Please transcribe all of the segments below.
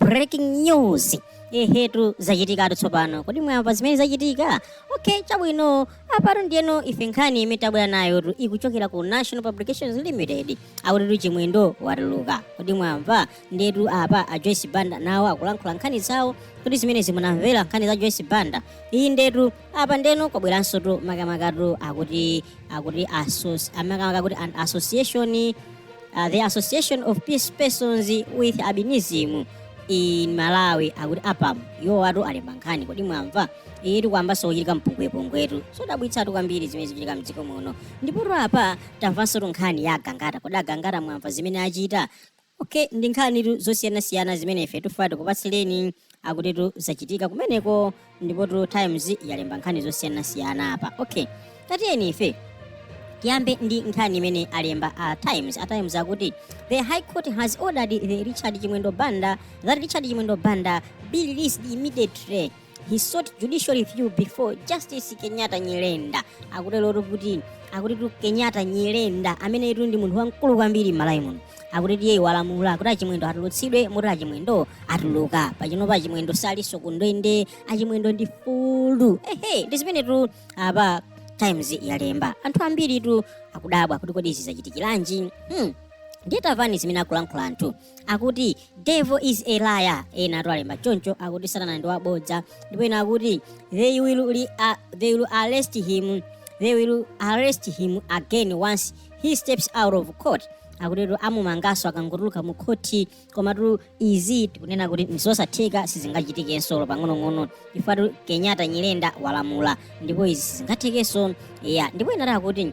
breaking news ehetu zachitikatu tsopano kodi mwamva zimene zachitika okay chabwino apatu ndiye ife nkhani imene tabwera nayotu ikuchokera ku national publications limited akutitu a chimwendo watuluka kodi mwamva ndiyetu apa a joyce banda nawo akulankhula nkhani zawo kuti simunamvere nkhani za joyce banda iyi ndiyetu apa ndiyeno kwabweransotu makamakatu akuti akuti asos- amakamaka kuti an association uh, the association of persons with albinism in malawi akuti apam iwowatu alemba nkhani kodi mwamva iyitu kwayambanso kuchitika mpungwepungwetu sodabwitsatu kwambiri zimene zikuchitika mdziko muno ndipotu apa tamvansotu nkhani ya agangata kodi agangata mwamva zimene achita Ok ndi nkhanitu zosiyanasiyana zimene ife tifuna tikupatsireni akutitu zachitika kumeneko ndipotu times yalemba nkhani zosiyanasiyana apa ok tatiyeni ife tiyambe ndi nkhani imene alemba a times a times akuti the high court has ordered that richard chimwendo banda that richard chimwendo banda be released immediately he sought judicial review before justice kenyatta nyirenda akuterotu kuti akutitu kenyatta nyirenda ameneyutu ndi munthu wamkulu kwambiri m'malawi muno akutitu iye walamula akuti achimwendo atulutsidwe moti achimwendo atuluka pachinopa achimwendo salinso kundende achimwendo ndi mfulu ehe ndi zimenetu apa times yalemba anthu ambiritu akudabwa kuti kodi izi zachitikiranji hmm. ndiye tamvani zimene akulankhula anthu akuti devil is a liar enatu alemba choncho akuti satana ndi wabodza ndipo ena akuti they will, li, uh, they will arrest him they will arrest him again once he steps out of court akutitu amumanganso akangotuluka mu khoti komatu izi tikunena kuti nzosatheka sizingachitikenso olo pang'onong'ono chifukwa kenyatta nyirenda walamula ndipo izi sizingathekenso ya ndipo ena ati akuti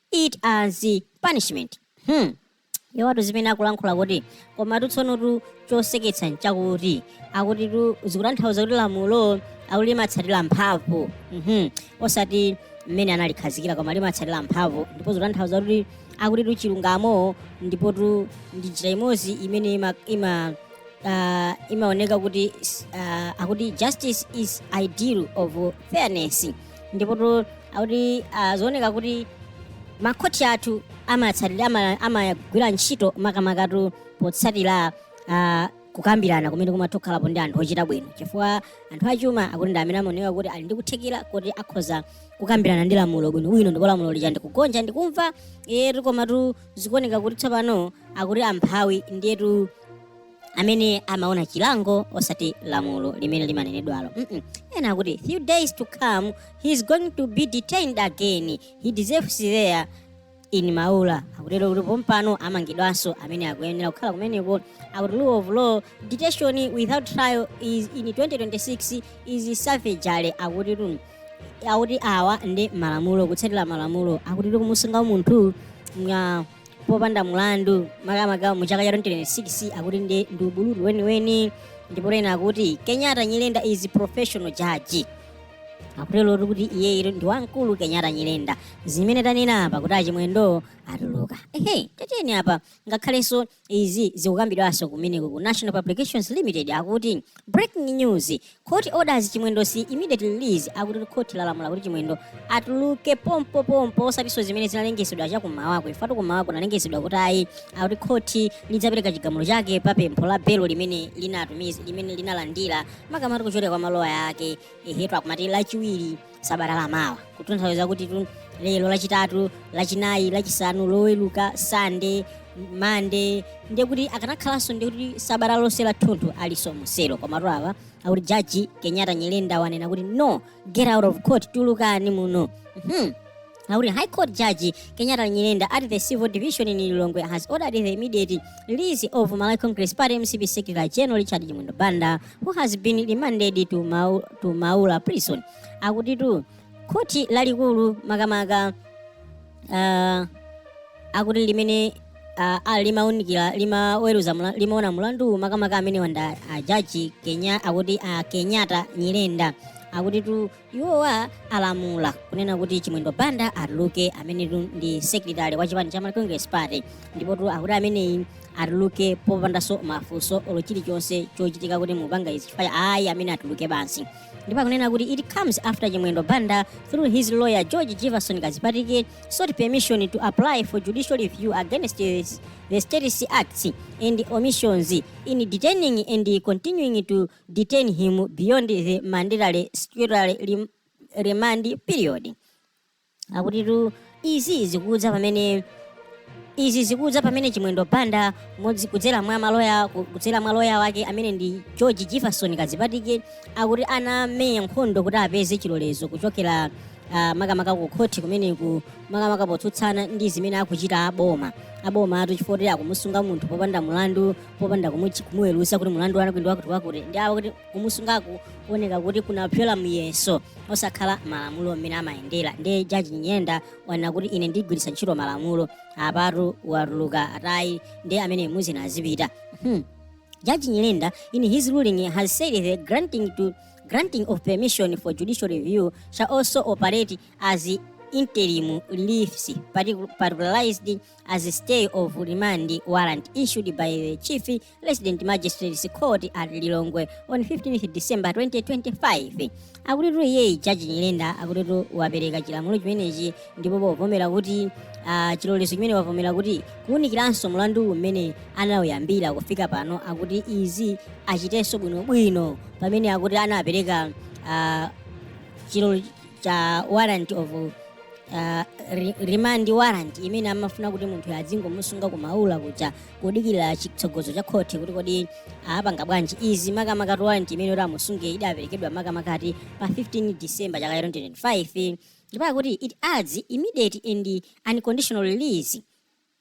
it as punishment hmm. iwowatu zimene akulankhula kuti komatu tsonotu choseketsa nchakuti akutitu zikutanthauza kuti lamulo akuti limatsatira mphamvu mhm osati mmene analikhazikira koma limatsatira mphamvu ndipo zikutanthauza kuti akutitu chilungamo ndipotu ndi njira imodzi imene ima, ima uh, imaoneka kuti uh, akuti justice is ideal of fairness ndipotu akuti ah, zioneka kuti makhoti athu amatsatira ama- amagwira ntchito makamakatu potsatira ah, kukambirana kumene kumatokhalapo ndi anthu ochita bwino chifukwa anthu a chuma akuti ndi amene amaoneka kuti ali ndi kuthekera kuti akhoza kukambirana ndi lamulo bwinobwino ndipo lamulo lija ndikugonja ndikumva etu komatu zikuoneka kuti tsopano akuti amphawi ndiyetu amene amaona chilango osati lamulo limene limanenedwalo mm -mm. ena akuti few days to come he is going to be detained again he deserves there in maula akutero kuti pompano amangidwanso ameneyu akuyenera kukhala kumeneko akuti rule of law detention without trial in 2026 is savagery akuti tu akuti awa ndi malamulo kutsatira malamulo akuti kumusunga munthu nga popanda mlandu makamaka mu chaka cha 2026 akuti ndi ndi ubulutu weniweni ndipotu ena akuti kenyatta nyirenda is a professional judge akutero kuti iyeyo ndi wamkulu kenyatta nyirenda zimene tanena apa kuti achimwendo atuluka ehe tiyeni apa ngakhalenso izi zikukambidwanso kumeneko ku national publications limited akuti breaking news Court orders Chimwendo's immediate release akuti court lalamula kuti Chimwendo atuluke pompo pompo osatinso zimene zinalengezedwa cha kummawaku pajatu kummawaku kunalengezedwa kuti ayi akuti court lidzapereka chigamulo chake pa pempho la belo limene linatumiza limene linalandira makamaka kuchokera kwa maloya ake ehetu akumati lachiwiri sabata la mawa kutanthauza kutitu lero lachitatu lachinayi lachisanu loweruka sande mande ndiye kuti akanakhalanso ndiye kuti sabata lonse la thunthu alinso muselo komatu apa akuti jaji kenyatta nyirenda wanena kuti no get out of court tulukani muno hmm. Akuti High Court Judge Kenyatta Nyirenda at the Civil Division in Lilongwe has ordered the immediate release of Malawi Congress Party MCP Secretary General Richard Chimwendo Banda who has been remanded to, Mau, to Maula prison. Akutitu khoti lalikulu makamaka uh, akuti limene uh, ali limaunikira limaweruza mula- limaona mulandu makamaka amene wa ajaji kenya akuti uh, kenyatta nyirenda akuti tu iwowa alamula kunena kuti chimwendo banda atuluke amenetu ndi secretary wa chipani cha malawi congress party ndipotu akuti ameneyi atuluke popandanso mafunso olo chilichonse chochitika kuti mupanga izi chifukwa ayi ameneyi atuluke basi ndipo akunena kuti it comes after chimwendo banda through his lawyer george jefferson kadzipatike sought permission to apply for judicial review against his- the state's acts and omissions in detaining and continuing to detain him beyond the mandatory statutory rem- remand period akutitu izi zikudza pamene izi zikudza pamene chimwendo banda podzera kudzera mwa maloya ku- kudzera mwa loya wake amene ndi george jefferson kadzipatike akuti anamenya nkhondo kuti apeze chilolezo kuchokera ah, makamaka ku khoti kumeneko makamaka potsutsana ndi zimene akuchita aboma abomatu chifukwa kuti akumusunga munthu popanda mulandu popanda kumuchi- kumuweruza kuti mulandu wanu ndi wakuti wakuti ndiye kuti kumusungaku kuoneka kuti kunapyola muyeso osakhala malamulo mmene amayendera ndi jaji Nyirenda wanena kuti ine ndigwiritsa ntchito malamulo apatu watuluka atayeni ameneyu azipita hmm. Judge Nyirenda, in his ruling, has said the granting to granting of permission for judicial review shall also operate as interim reliefs, particu- particularized as a stay of remand warrant issued by the Chief Resident Magistrate's Court at Lilongwe on 15th December 2025. Akutitu iyeyi jaji Nyirenda akutitu wapereka chilamulo chimenechi ndipo povomera kuti ah, chilolezo chimene wavomera kuti kuwunikiranso mlandu umene anawuyambira kufika pano akuti izi achitenso bwinobwino pamene akuti anapereka ah, chilo cha warrant of uh, re- remand warrant imene amafuna kuti munthu adzingomusunga kumaula kuja kudikira chitsogozo cha khoti kuti kodi apanga bwanji izi makamaka warrant imene kuti amusunge idaperekedwa makamaka ati pa 15 december chaka cha 2025 ndipo akuti it adds immediate and unconditional release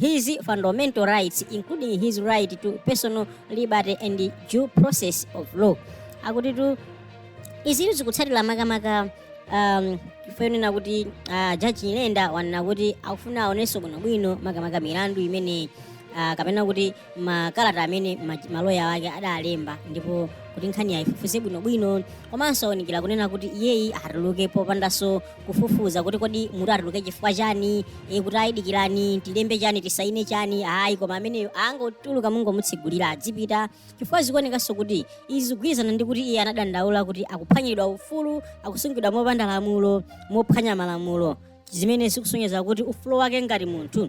his fundamental rights including his right to personal liberty and due process of law akutitu izitu zikutsatira makamaka um, mfundo yonena kuti uh, jaji nyirenda wanena kuti akufuna aonenso bwinobwino makamaka milandu imene uh, kapena kuti makalata amene ma- maloya wake adalemba ndipo kuti nkhani ayifufuze bwinobwino komanso waunikira kunena kuti iyeyi atuluke popandanso kufufuza kuti kodi munthu atuluke chifukwa chani e, kuti ayi dikirani tilembe chani tisaine chani ayi koma ameneyo angotuluka mungomutsegulira adzipita chifukwa zikuonekanso kuti izi zikugwirizana ndi kuti iye anadandaula kuti akuphwanyiridwa ufulu akusungidwa mopanda lamulo mophwanya malamulo zimene zikusonyeza kuti ufulu wake ngati munthu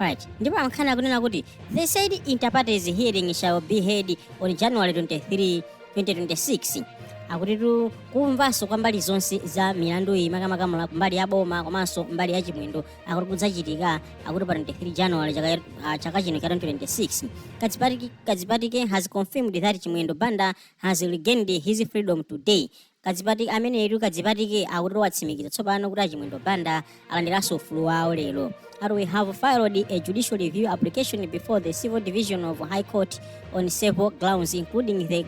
Right. ndipo ankhani akunena kuti the said inter partes hearing shall be held on january 23 2026 akutitu kumvanso kwa mbali zonse za milandu iyi makamaka mula- mbali ya boma komanso mbali ya chimwendo akuti kudzachitika akuti pa 23 january chaka, ah, chaka chino cha 2026 kadzipatike, kadzipatike has confirmed that chimwendo banda has regained his freedom today Kadzipati amenetu kadzipatike akuti watsimikiza tsopano kuti achimwendo banda alandiranso ufulu wawo lero that we have filed a judicial review application before the civil division of high court on several grounds including the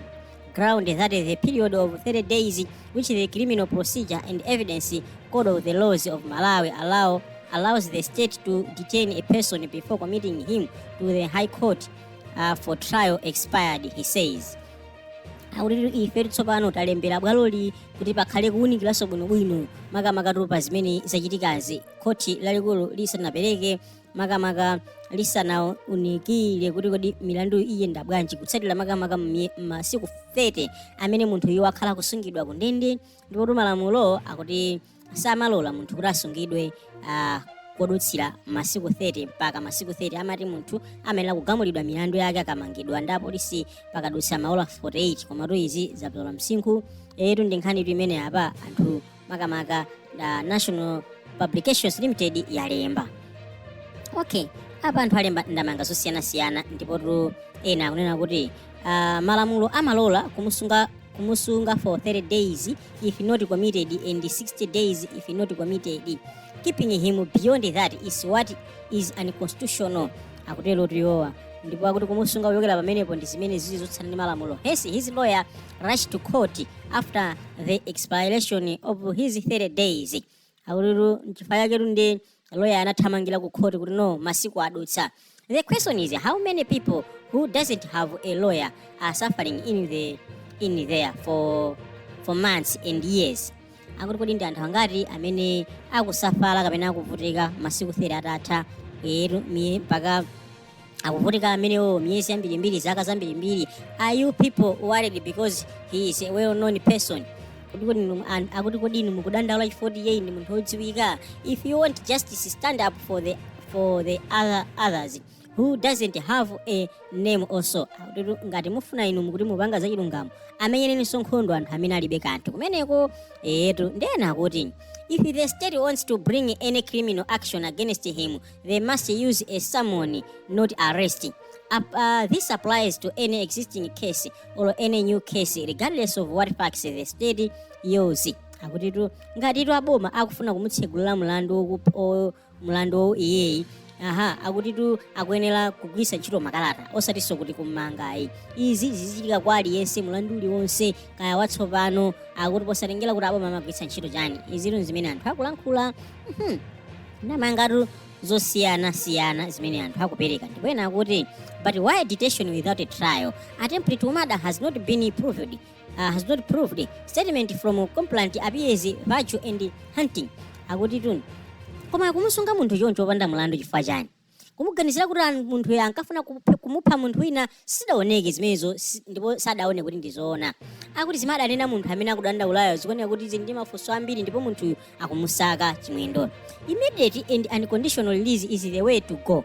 ground that the period of 30 days which the criminal procedure and evidence code of the laws of malawi allow allows the state to detain a person before committing him to the high court uh, for trial expired he says akuti ifetu tsopano talembera bwaloli kuti pakhale kuwunikiranso bwinobwino makamakatu pa zimene zachitikazi khoti lalikulu lisanapereke makamaka lisanaunikire kuti kodi milandu iyenda bwanji kutsatira makamaka m'mye- masiku 30 amene munthuyu wakhala kusungidwa ku ndende ndipotu malamulo akuti samalola munthu kuti asungidwe ah, kudutsira masiku 30 mpaka masiku 30 amati munthu amayenera kugamulidwa milandu yake akamangidwa ndi apolisi pakadutsa maola 48 komatu izi zapyola msinkhutu ndi nkhanitu imene apa anthu makamaka da national publications limited yalemba okay apa anthu alemba ndemanga zosiyanasiyana ndipotu ena akunena kuti Uh, malamulo amalola kumusunga kumusunga for 30 days if not committed and 60 days if not committed keeping him beyond that is what is unconstitutional akutero tiyowa ndipo akuti kumusunga kuchokera pamenepo ndi zimene zili zotsutsana ndi malamulo hence his lawyer rushed to court after the expiration of his 30 days akutitu nchifukwa chaketu loya anathamangira ku khoti kuti no masiku adutsa the question is how many people who doesn't have a lawyer are suffering in the in there for for months and years akuti kodi ndi anthu angati amene akusafala kapena akuvutika masiku 30 atatha yetu miye mpaka akuvutika amenewo miyezi yambirimbiri zaka zambirimbiri are you people worried because he is a well known person Kodi kodi inu- an- akuti kodi inu mukudandaula chifukwa kuti iye ndi munthu wodziwika if you want justice stand up for the, for the other, others who doesn't have a name also Akutitu ngati mufuna inu mukuti mupanga zachilungamo amenyereninso nkhondo anthu amene alibe kanthu kumeneko etu ndi ena akuti If the state wants to bring any criminal action against him, they must use a summon not arrest Up, uh, this applies to any existing case or any new case regardless of what facts the state use akutitu ngatitu aboma akufuna kumutsegulira mlandu wokup- o- mlandu wowu iyeyi aha akutitu akuyenera kugwiritsa ntchito makalata osatinso kuti kummangayi izi zizichitika kwa aliyense mlandu uliwonse kaya watsopano akuti posatengera kuti aboma amagwiritsa ntchito chani izitu zimene anthu akulankhula Mhm. ndemangatu zosiyana siyana zimene anthu akupereka ndipo ena akuti but why detention without a trial attempted murder has not been proved uh, has not proved statement from complainant appears virtue and hunting akutitu koma kumusunga munthu choncho opanda mlandu chifukwa chani kumuganizira kuti an- munthuyo ankafuna kuphe- kumupha munthu wina sidaoneke zimenezo si- ndipo sadaone kuti ndizoona akuti zimene adanena munthu amene akudandaulayo zikuoneka kuti zili ndi mafunso ambiri ndipo munthuyo akumusaka chimwendo immediate and unconditional release is the way to go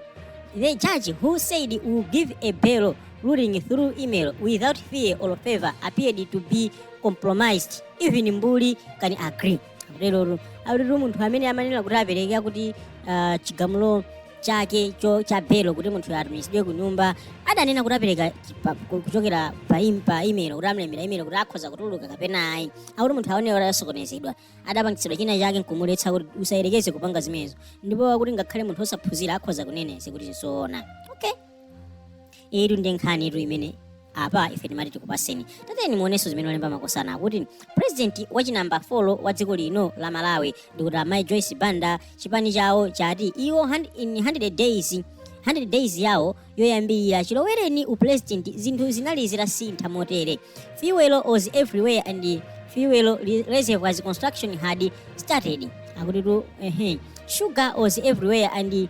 the judge who said will give a bail ruling through email without fear or favor appeared to be compromised even mbuli can agree akuterotu akutitu munthu amene amanena kuti apereka akuti ah, chigamulo chake cho cha belo kuti munthu atumizidwe ku nyumba adanena kuti apereka chi- pa- ku- kuchokera pa im- pa email kuti amlembera email kuti akhoza kutuluka kapena ayi akuti munthu akuoneka kuti asokonezedwa adapangitsidwa china chake nkumuletsa kuti usayerekeze kupanga zimenezo ndipo akuti ngakhale munthu osaphunzira akhoza kuneneza kuti zoona okay iyitu ndi nkhani itu imene apa ife timati tikupaseni tateni muonenso zimene alemba makosana akuti purezidenti wachinamba 4 wa dziko lino la malawi ndikuti amayi joyce banda chipani chawo chati iwo hand- in 100 days 100 days yawo yoyambirira chilowereni upurezidenti zinthu zinali zitasintha motere fuel was everywhere and fuel re- reservoirs construction had started akutitu ehe sugar was everywhere and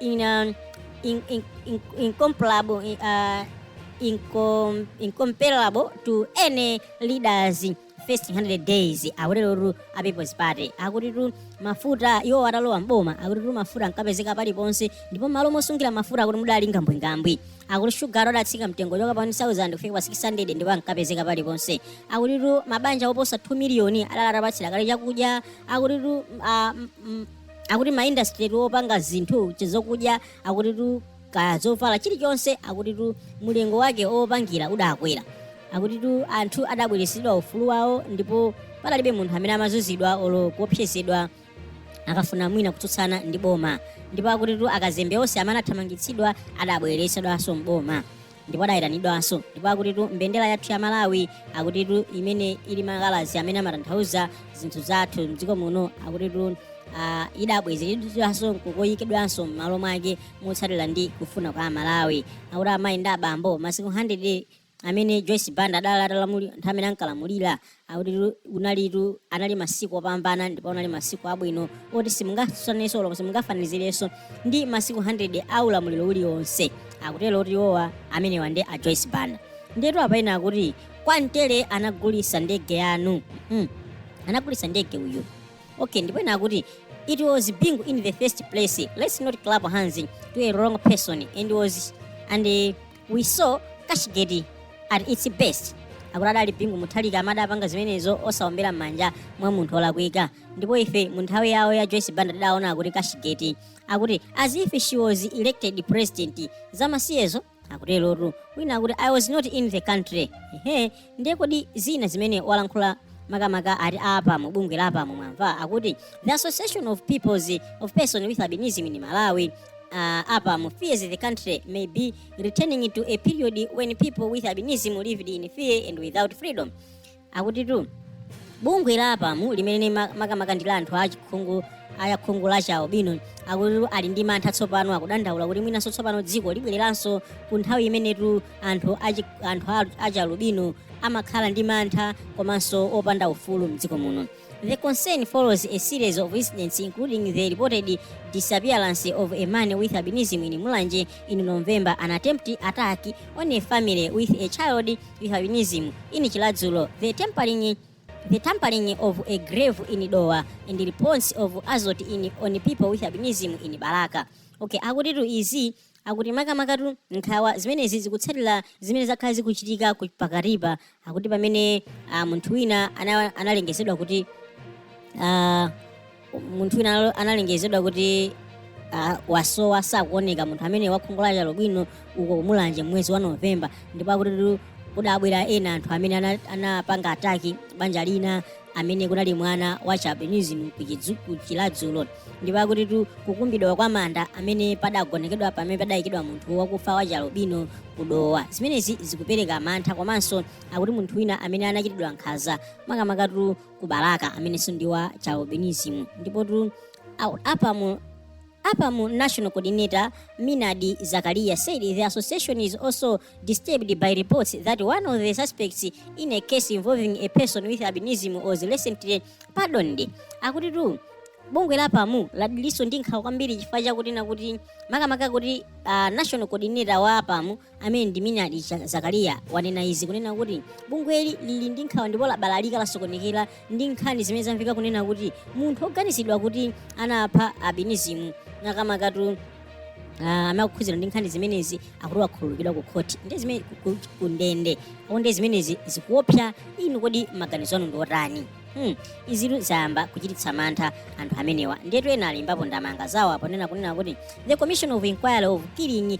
in, um, in, in, in, incomparable, in, uh, incom, incomparable to any leaders in first 100 days akuterotu a people's party akutitu mafuta iwo atalowa mboma akutitu mafuta ankapezeka paliponse ndipo malo mosungira mafuta akuti mudali ngwambwingwambwi akuti shugayo adatsika mtengo kuchoka pa 1000 kufika pa 600 ndipo ankapezeka paliponse akutitu mabanja oposa 2 miliyoni adali atapatsidwa kale chakudya akutitu ah, m- m- akuti maindastry opanga zinthu zokudya akutitu kaya zovala chilichonse akutitu mulingo wake opangira udakwera akutitu anthu adabweresedwa ufulu wawo ndipo padalibe munthu amene amazuzidwa olo kuopsezedwa akafuna mwina kutsutsana ndi boma ndipo akutitu akazembe onse amene anathamangitsidwa adabweresedwanso mboma ndipo adayitanidwanso ndipo akutitu mbendera yathu ya malawi akutitu imene ili ndi makalazi amene amatanthauza zinthu zathu mdziko muno akutitu ah, idabwezeredwanso nkukayikidwanso m'malo mwake motsatira ndi kufuna kwa amalawi akuti amayi ndi abambo masiku 100 amene joyce banda adali atalamulira nthawi imene ankalamulira Akutitu kunalitu anali masiku opambana ndipo anali masiku abwino oti simungatsutsanenso kapena simungafanizirenso ndi masiku 100 a ulamuliro ulionse akutero oti iwowa amenewa ndi a Joyce Banda ndiyetu apa ena akuti kwa mtele anagulisa ndege yathu hmm. anagulisa ndege uyu okay ndipo ena akuti it was bingu in the first place let's not clap hands to a wrong person and was and eh, we saw cashgate at its best akuti adali bingu mutharika amadapanga zimenezo osaombera m'manja mwa munthu olakwika ndipo ife mu nthawi yawo ya joyce banda tidaona akuti cashgate akuti as if she was elected president zamasiyezo akuterotu wina akuti i was not in the country ehe ndiye kodi zina zimene walankhula makamaka a apamu bungwe la apamu mwamva akuti the association of persons with albinism in malawi uh, apamu fears the country may be returning to a period when people with albinism lived in fear and without freedom akutitu bungwe la apamu limene ma- makamaka ndi la anthu achikhungu akhungu la chialubino akuti ali ndi mantha tsopano akudandaula kuti mwinanso tsopano dziko libwereranso ku nthawi imene anthu achi- anthu a- achialubino amakhala ndi mantha komanso opanda ufulu mdziko muno the concern follows a series of incidents including the reported disappearance of a man with albinism in mulanje in november an attempted attack on a family with a child with albinism in chiradzulu the tempering the tampering of a grave in dowa and the reports of assault on people with albinism in balaka okay akutitu izi akuti makamakatu nkhawa zimenezi zikutsatira zimene zakhala zikuchitika ku- pakatipa akuti pamene ah, munthu wina ana- analengezedwa kuti ah, munthu wina analo- analengezedwa kuti ah, wasowa sakuoneka munthu amene wakhungu la chialubino uko kumulanje mwezi wa novemba ndipo akutitu kudabwera ena anthu amene ana- anapanga ataki banja lina amene kunali mwana wa chialbinism ku chidzuku chiradzulu ndipo akutitu kukumbidwa kwa manda amene padagonekedwa pamene padayikidwa munthu wakufa wa chialubino kudowa zimenezi zikupereka mantha komanso akuti munthu wina amene anachitidwa nkhanza makamakatu ku balaka amenenso ndi wa chialbinism ndipotu au- apamu Apam National Coordinator Maynard Zakariya said the association is also disturbed by reports that one of the suspects in a case involving a person with albinism was recently pardoned. Akutitu bungwe la apamu lilinso ndi nkhawa kwambiri chifukwa chakuti nakuti makamaka kuti ah, national coordinator wa apamu amene ndi Maynard Zakariya wanena izi kunena kuti bungweli lili ndi nkhawa ndipo labalalika lasokonekera ndi nkhani zimene zamveka kunena kuti munthu oganizidwa kuti anapha abinizimu makamakatu Uh, ah, amakhudzidwa ndi nkhani zimenezi akuti wakhululukidwa ku khoti ndi zimene ku ndende onde zimenezi zikuopsa inu kodi maganizo anu ndi otani hmm. izitu zayamba kuchititsa mantha anthu amenewa ndiyetu ena alembapo ndemanga zawo apa kunena kuti the commission of inquiry of killing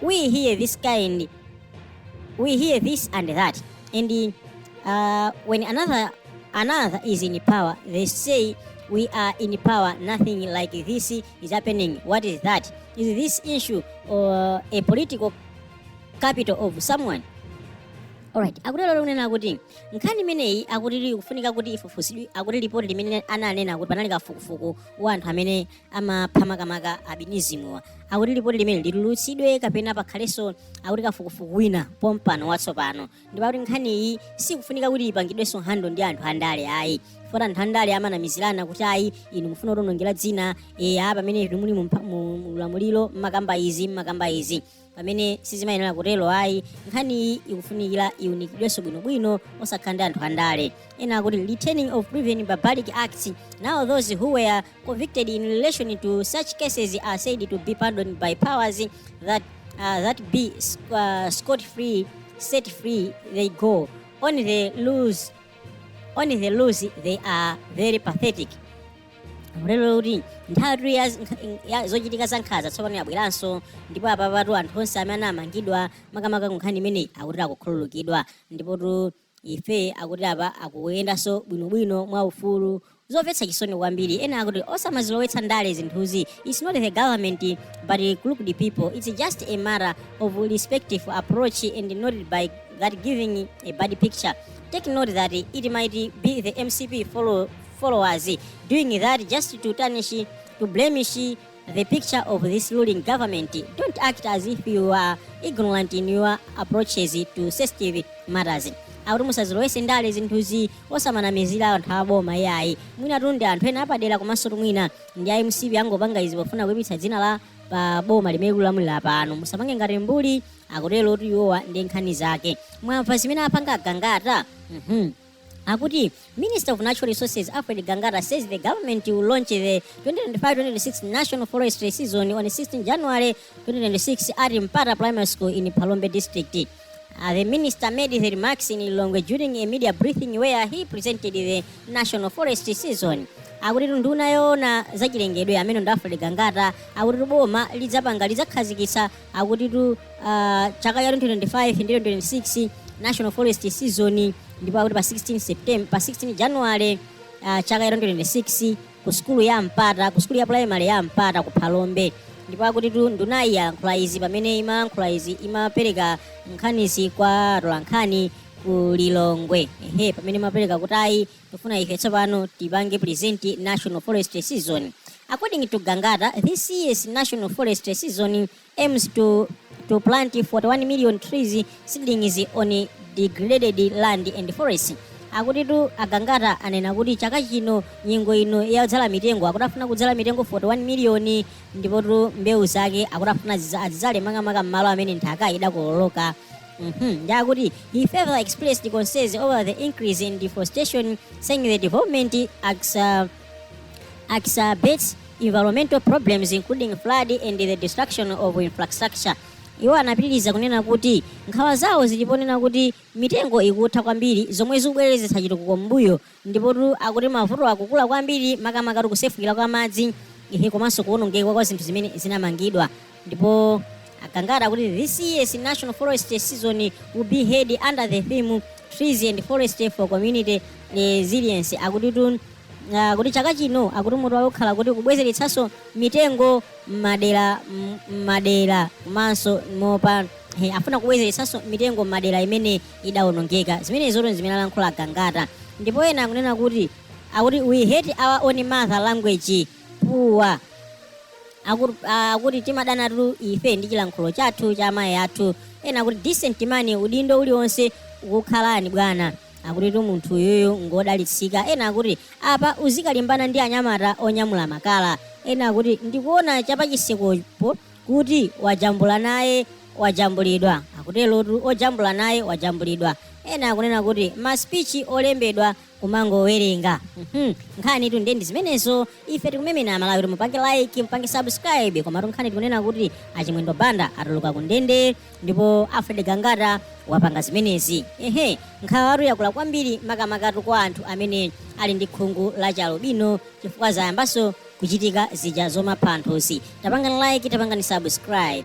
we hear this kind, we hear this and that, and uh, when another another is in power, they say we are in power. Nothing like this is happening. What is that? Is this issue or a political capital of someone? Alright, akutero kunena kuti nkhani imeneyi akuti ikufunika kuti ifufuzidwe akuti lipoti limene ananena kuti panali kafukufuku wa anthu amene amapha makamaka albinism-wa akuti lipoti limene litulutsidwe kapena pakhalenso akuti kafukufuku wina pompano watsopano ndipo akuti nkhaniyi sikufunika kuti ipangidwenso nkhondo ndi anthu andale ayi chifukwa anthu andale amanamizirana kuti ayi inu mufuna kutionongera dzina eya pamene inu muli mu mpa- mu- mu ulamuliro mmakamba izi mmakamba izi pamene sizimayenera kutero ayi nkhaniyi ikufunikira iunikidwenso bwinobwino osakhala ndi anthu andale ena akuti returning of previous barbaric acts now those who were convicted in relation to such cases are said to be pardoned by powers that, uh, that be uh, scot free set free they go on the loose on the loose they are very pathetic lero kuti nthawi ya, ya zochitika za nkhanza tsopano yabweranso ndipo apapatu anthu onse amene anamangidwa makamaka kunkhani imeneyi akuti akukhululukidwa ndipotu ife akuti apa akuyendanso bwinobwino mwa ufulu zomvetsa chisoni kwambiri ena akuti osamazilowetsa ndale zinthuzi its not the government but a group of people its just a matter of respective approach and not by that giving a bad picture take note that it might be the mcp follow followers doing that just to tarnish to blemish the picture of this ruling government don't act as if you are ignorant in your approaches to sensitive matters akuti musazilowetse ndale zinthuzi osamanamizira anthu aboma iyayi mwinatu ndi anthu ena apadera komanso mwina ndi a mcp angopanga izi pofuna kuipitsa dzina la boma limene likulamulira pano musapange ngati mbuli akutero kuti iwowa ndi nkhani zake mwamva zimene apanga agangata mhm akuti minister of natural resources alfred gangata says the government will launch the 2025-2026 national forestry season on 16 january 2026 at mpata primary school in palombe district Uh, the minister made the remarks in Lilongwe during a media briefing where he presented the national forestry season akuti nduna yoona zachilengedwe amene ndi alfred gangata akuti boma lidzapanga lidzakhazikitsa akutitu ah, chaka cha 2025 ndi 2026 national forest season ndipo akuti pa 16 september pa 16 january ah, chaka cha 2026 ku sukulu ya mpata ku sukulu ya primary ya mpata ku phalombe ndipo akutitu ndunayi yalankhula izi pamene imalankhula izi imapereka nkhanizi kwa atolankhani ku lilongwe ehe pamene imapereka kuti ayi tufuna ife tsopano tipange present national forestry season according to gangata this year's national forestry season aims to to plant 41 million trees seedlings on degraded land and forests akutitu agangata anena kuti chaka chino nyengo ino yodzala mitengo akutafuna kudzala mitengo 41 miliyoni ndipotu mbewu zake akutafuna ziza- azidzale makamaka m'malo amene nthaka idakokoloka Mhm, ndi akuti he further expressed concerns over the increase in deforestation saying the development exa- exacerbates environmental problems including flood and the destruction of infrastructure iwo anapitiriza kunena kuti nkhawa zawo zilipo ponena kuti mitengo ikutha kwambiri zomwe zikubwezeretsa chitukuko m'mbuyo Ndipotu akuti mavutowa akukula kwambiri makamakatu kusefukira kwa madzi ehe komanso kuwonongeka kwa zinthu zimene zinamangidwa. Ndipo a Gangata akuti this year's National Forestry Season will be held under the theme Trees and Forestry for Community Resilience. Akutitu ah, kuti chaka chino akuti mutu wawo ukhala kuti kubwezeretsanso mitengo m'madera m- m'madera komanso mopa he, afuna kubwezeretsanso mitengo m'madera imene idawonongeka. Zimenezotu n'zimene alankhula Gangata. Ndipo ena akunena kuti akuti we hate our own mother language poor Aku- ah, akuti timadanatu ife ndi chilankhulo chathu cha amayi athu ena akuti decent man udindo uliwonse ukukhalani bwana akutitu munthu uyuyu ngodalitsika ena akuti apa uzikalimbana ndi anyamata onyamula makala ena akuti ndikuona cha pachisikopo kuti wajambula naye wajambulidwa akuterotu ojambula naye wajambulidwa ena akunena kuti maspichi olembedwa kumangowerenga Mhm. nkhanitu ndiye ndi zimenezo ife tikumemena amalawi kuti mupange like mupange subscribe komatu nkhani tikunena kuti achimwendo banda atuluka ku ndende ndipo alfred gangata wapanga zimenezi ehe nkhawatu yakula kwambiri makamakatu kwa anthu amene ali ndi khungu la chialubino chifukwa zayambanso kuchitika zija zomapha anthu zija. Tapangani like, tapangani subscribe.